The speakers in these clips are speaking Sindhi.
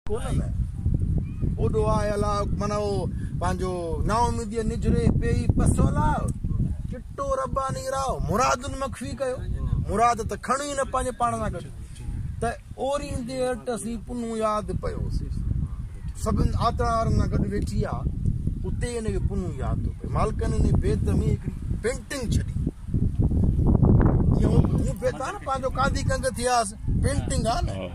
ڪونهن نه اوڏو آء الاء معنيٰ او پنهنجو نااميديء نجري پيئي پسو لاء چٽو رباني راء مرادن مخفي ڪيو مراد ته کڻو ئي نه پنهنجي پاڻ سان گڏ ته اوريندي اٽ اسين پنو ياد پيو سڀن آتڙا وارن سان گڏ ويٺي آ اتي ان کي پنو ياد ٿو پئي مالڪن ان بيت ۾ هڪڙي پينٽنگ ڇڏي جيئن هو بيتان پنهنجو قاضي ڪنگ ٿياس پينٽنگ آ نه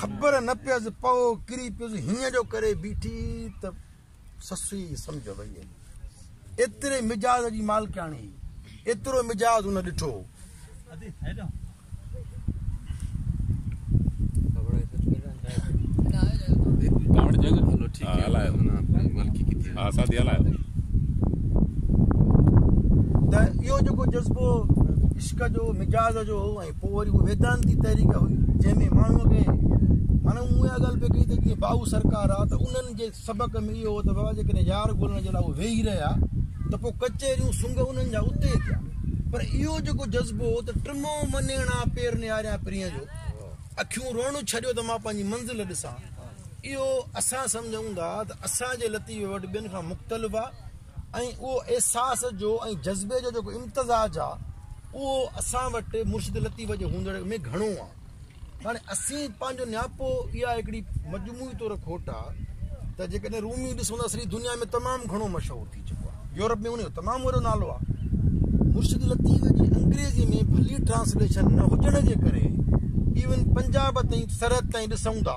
خبر نه پيس پئو ڪري پيس هيئن جو ڪري بيٺي ته سس ئي سمجهه وئي هئي ايتري مجاز جي مالڪياڻي ايترو مجاز ان ڏٺو ته اهو جيڪو جذبو عشق جو مجاز جو پوء وري اها ويدانتي تحريڪ هئي جنهن ۾ ماڻهو کي مانا مون اها ڳالهه پئي ڪئي ته جيئن باهو سرڪار آ ته انهن جي سبق ۾ اهو هو ته بابا جيڪڏهن يار ڳولڻ جي لاء اهو ويهي رهيا ته پوء ڪچهريون سنگ انهن جا اتي ٿيا پر اهو جيڪو جذبو هو ته ٽمو منيڻا پير نياريان پرينء جو اکيون روئڻ ڇڏيو ته مان پنهنجي منزل ڏسان اهو اسان سمجهون ٿا ته اسان جي لطيفي وٽ ٻين کان مختلف آ ۽ اهو احساس جو ۽ جذبي جو جيڪو امتزاج آ اهو اسان وٽ مرشد لطيف جي هوندڙ ۾ گهڻو آ هاڻي اسين پنهنجو نياپو اها هڪڙي مجموعي طور کوٽ آ ته جيڪڏهن رومي ڏسون ته سڄي دنيا ۾ تمام گهڻو مشهور ٿي چڪو آ يورپ ۾ ان جو تمام وڏو نالو آ مرشد لطيف جي انگريزي ۾ ڀلي ٽرانسليشن نه هجڻ جي ڪري ايون پنجاب تائين سرحد تائين ڏسون ٿا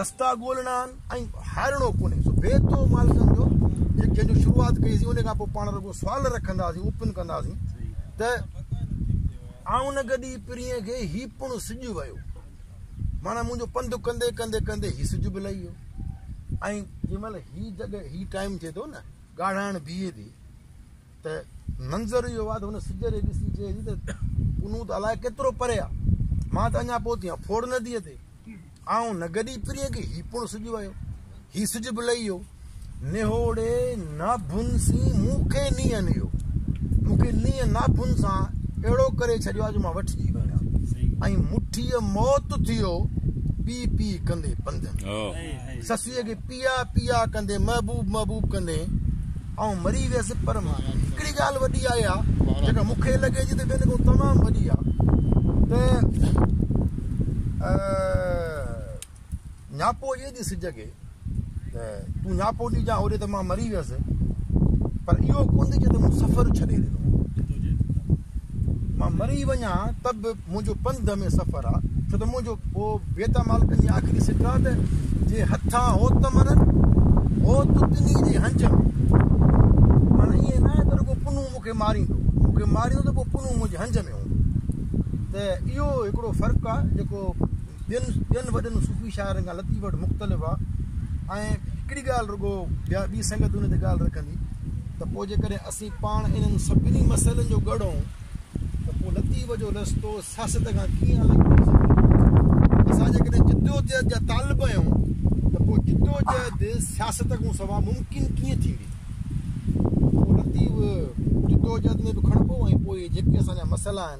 رستا ڳولڻا آهن ۽ هارڻو ڪونهي سو بي تو مال سمجھو جي جن جو شروعات ڪئي سي ان کان پوء پاڻ رڳو سوال رکندا سي اوپن ڪندا سي ته آئون نه گڏي پرين کي هي پڻ سج ويو مانا منهنجو پنڌ ڪندي ڪندي ڪندي هي سج به لهي ويو ۽ جنهن مهل هي جڳهه هي ٽائيم ٿئي ٿو نه ڳاڙهائڻ بيهي ٿي ته منظر اهو آهي ته هن سج ري ڏسي چئي ٿي ته پنهون ته الائي ڪيترو پري آهي مان ته اڃا پهتي آهيان ڦوڙ نديء تي آئون نه گڏي پرينء کي هي پڻ سج ويو هي سج به لهي ويو نهوڙي ناڀن سين مون کي نينهن نيو مون کي نينهن ناڀن سان اهڙو ڪري ڇڏيو آهي جو مان وٺجي ويو آهيان ۽ مٺيء موت ٿيو پي پي ڪندي پنڌ سسيء کي پيا پيا ڪندين محبوب محبوب ڪندين آئون مري ويس پر هڪڙي ڳالهه وڏي آهي ها جيڪا مون کي لڳي ٿي ته ٻين کان تمام وڏي آهي نياپو جي ڏي سج کي ته تون نياپو ڏجان هوڏي ته مان مري ويس پر اهو ڪنڌ جي ته مون سفر ڇڏي ڏنو مان مري وڃان ته به منهنجو پنڌ ۾ سفر آ ڇو ته منهنجو پوء بيتا مالڪن جي آخري سٽ آ ته جي هٿان هو ته مرن هو ته ٻنهي جي هنج ۾ مانا ائين نه آهي ته رڳو پنهون مون کي ماريندو مون کي ماريندو ته پوء پنهون منهنجي هنج ۾ هوندو ته اهو هڪڙو فرق آ جيڪو ٻين ٻين وڏن صوفي شاعرن کان لطيف وٽ مختلف آ ۽ هڪڙي ڳالهه رڳو ٻيا ٻي سنگت ان تي ڳالهه رکندي ته پوء جيڪڏهن اسين پاڻ انهن سڀني مسئلن جو ڳڙهون ته پوء لطيف جو رستو سياست کان ڪيئن الڳ ٿي سگهي ٿو؟ اسان جيڪڏهن جدوجهد جا طالب آهيون ته پوء جدوجهد سياست کان سواء ممڪن ڪيئن ٿيندي؟ پوء لطيف جدوجهد ۾ به کڻبو ۽ پوء جيڪي اسان جا مسئلا آهن،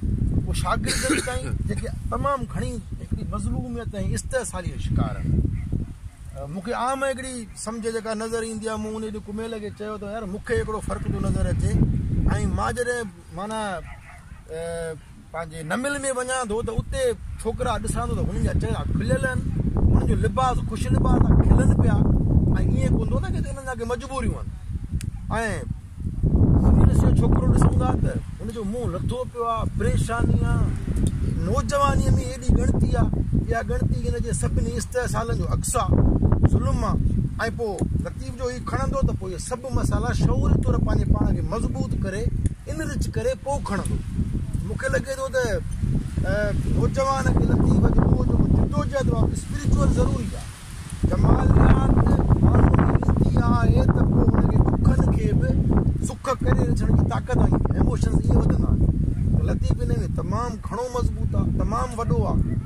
اهي شاگرد آهن تائين جيڪي تمام گهڻي هڪڙي مظلوميت ۽ استحصالي جو شڪار آهن مون کي عام هڪڙي سمجهه جيڪا نظر ايندي آهي مون ان ڏينهن ڪميل کي چيو ته يار مون کي هڪڙو فرق ٿو نظر اچي ۽ مان جڏهن مانا پنهنجي نمل ۾ وڃان ٿو ته اتي ڇوڪرا ڏسان ٿو ته هنن جا چهرا کليل آهن هنن جو لباس خوش لباس کلن پيا ۽ ائين ڪوندو نه ڪي هنن جا ڪي مجبوريون آهن ۽ جڏهن اسين ڇوڪرو ڏسون ٿا ته ان جو منهن لٿو پيو آهي پريشاني آهي نوجواني ۾ ايڏي ڳڻتي آهي اها ڳڻتي ان جي سڀني استحصالن جو عڪس آهي ظلم آهي ۽ پوء لطيف جو هي کڻندو ته پوء اهي سڀ مسالا شعوري طور پنهنجي پاڻ کي مضبوط ڪري انرچ ڪري پوء کڻندو مون کي لڳي ٿو ته نوجوان کي لطيف جو جدوجهد اسپريچوئل ضروري آهي جماليات ماڻهوء ۾ وجهندي آهي ته پوء ان جي دکن کي به سک ڪري رجهڻ جي طاقت ۽ ايموشنز ائين وڌندا آهن ته لطيف ان ۾ تمام گهڻو مضبوط آهي تمام وڏو آهي.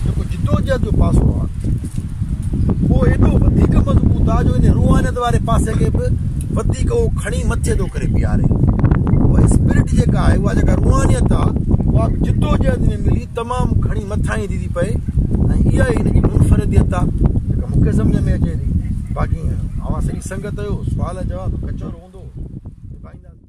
جيڪو جدوجهد جو پاسو آهي اهو ايڏو وڌيڪ مضبوط آهي جو ان روحانيت واري پاسي کي به وڌيڪ اهو کڻي مٿي ٿو ڪري بيهاري اها اسپرٽ جيڪا آهي اها جيڪا روحانيت آهي اها جدوجهد ۾ ملي تمام گهڻي مٿاهين ٿي پئي ۽ اها ئي هن جي منفرديت آ جيڪا مون کي سمجهه ۾ اچي ٿي باقي اوهان سڄي سنگت جو سوال جواب ڪچهرو هوندو نڀائينداسين.